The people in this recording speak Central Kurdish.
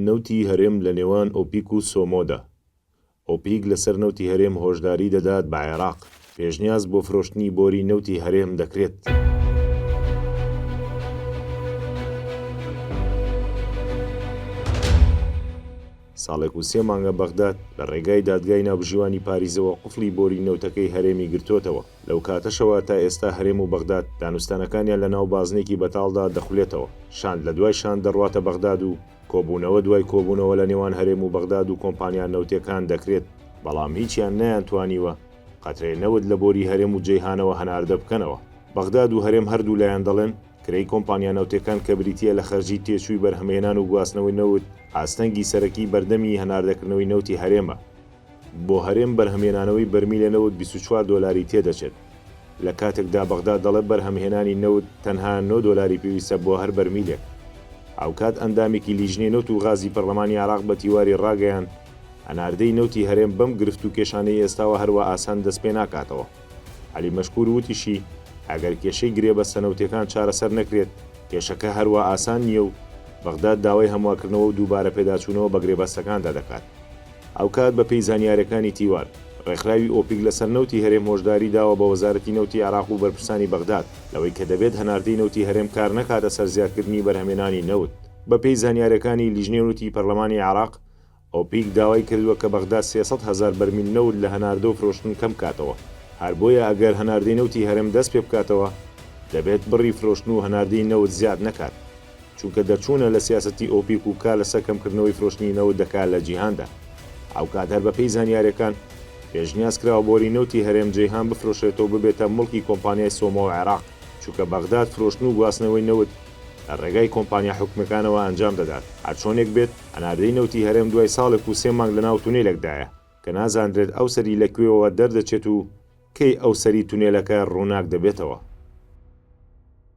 نەوتی هەرێم لە نێوان ئۆپیک و سۆمۆدا. ئۆپیک لەسەر نەوتی هەرێم هۆشداری دەدات بە عێراق، پێشنیاز بۆ فرۆشتنی بۆری نەوتی هەرێم دەکرێت. ساڵێک و سێ مانگە بەغداد لە ڕێگای دادگای ناوبژیوانی پاریزەوە قفڵی بۆری نەوتەکەی هەرێمی گرتۆتەوە. لەو کاتەشەوە تا ئێستا هەرێم و بەغداد دانوستانەکانیان لە ناو بازنێکی بەتاڵدا دەخولێتەوە، شاند لە دوای شاند دەڕواتە بەغداد و کۆبوونەوە دوای کۆبوونەوە لە نێوان هەرێم و بەغداد و کۆمپانیا نەوتێکان دەکرێت، بەڵام هیچیان نەیانتوانیوە قەترەی نەوت لە بۆری هەرێم و جەیهانەوە هەناردە بکەنەوە. بەغداد و هەرێم هەردوولایان دەڵێن، کرێی کۆمپانیا نەوتێکان کە بریتییە لە خەرجی تێچووی بەرهەمهێنان و گواستنەوەی نەوت، ئاستەنگی سەرەکی بەردەمی هەناردەکردنەوەی نەوتی هەرێمە. بۆ هەرێم بەرهەمهێنانەوەی بەرمیلە نەوت بیست و چوار دۆلاری تێدەچێت، لە کاتێکدا بەغداد دەڵێت بەرهەمهێنانی نەوت تەنها نۆ دۆلاری پێویستە بۆ هەر بەرمیلێک. هاوکات ئەندامێکی لیژنەی نەوت و غازی پەرلەمانی عێراق بە تیواری ڕاگەیاند، هەناردەی نەوتی هەرێم بەم گرفت و کێشانەی ئێستاوە هەروا ئاسان دەستپێناکاتەوە. عەلی مەشکور وتیشی، ئەگەر کێشەی گرێبەستە نەوتییەکان چارەسەر نەکرێت، کێشەکە هەروا ئاسان نییە و بەغداد داوای هەموارکردنەوە و دووبارە پێداچوونەوە بە گرێبەستەکاندا دەکات. هاوکات بەپێی زانیارییەکانی تیوار، ڕێکخراوی ئۆپیک لەسەر نەوتی هەرێم هۆشداری داوە بە وەزارەتی نەوتی عێراق و بەرپرسانی بەغداد لەوەی کە دەبێت هەناردەی نەوتی هەرێم کار نەکاتە سەر زیادکردنی بەرهەمێنانی نەوت. بەپێی زانیارییەکانی لیژنەی نەوتی پەرلەمانی عێراق، ئۆپیک داوای کردووە کە بەغداد سێ سەد هەزار بەرمیل نەوت لە هەناردە و فرۆشتن کەم بکاتەوە، هەر بۆیە ئەگەر هەناردەی نەوتی هەرێم دەست پێ بکاتەوە، دەبێت بڕی فرۆشتن و هەناردەی نەوت زیاد نەکات. چونکە دەرچوونە لە سیاسەتی ئۆپیک و کار لەسەر کەمکردنەوەی فرۆشتنی نەوت دەکات لە جیهاندا. هاوکات هەر بەپێی زانیارییەکان، پێشنیاز کراوە بۆری نەوتی هەرێم جەیهان بفرۆشرێتەوە و ببێتە موڵکی کۆمپانیای سۆمۆ و عێراق، چونکە بەغداد فرۆشتن و گواستنەوەی نەوت لە ڕێگای کۆمپانیا حکومییەکانەوە ئەنجام دەدات. هەرچۆنێک بێت، هەناردەی نەوتی هەرێم دوای ساڵێک و سێ مانگ لەناو تونێلێکدایە، کە نازاندرێت ئەو سەری لە کوێوەوە دەردەچێت و کەی ئەو سەری تونێلەکە ڕووناک دەبێتەوە.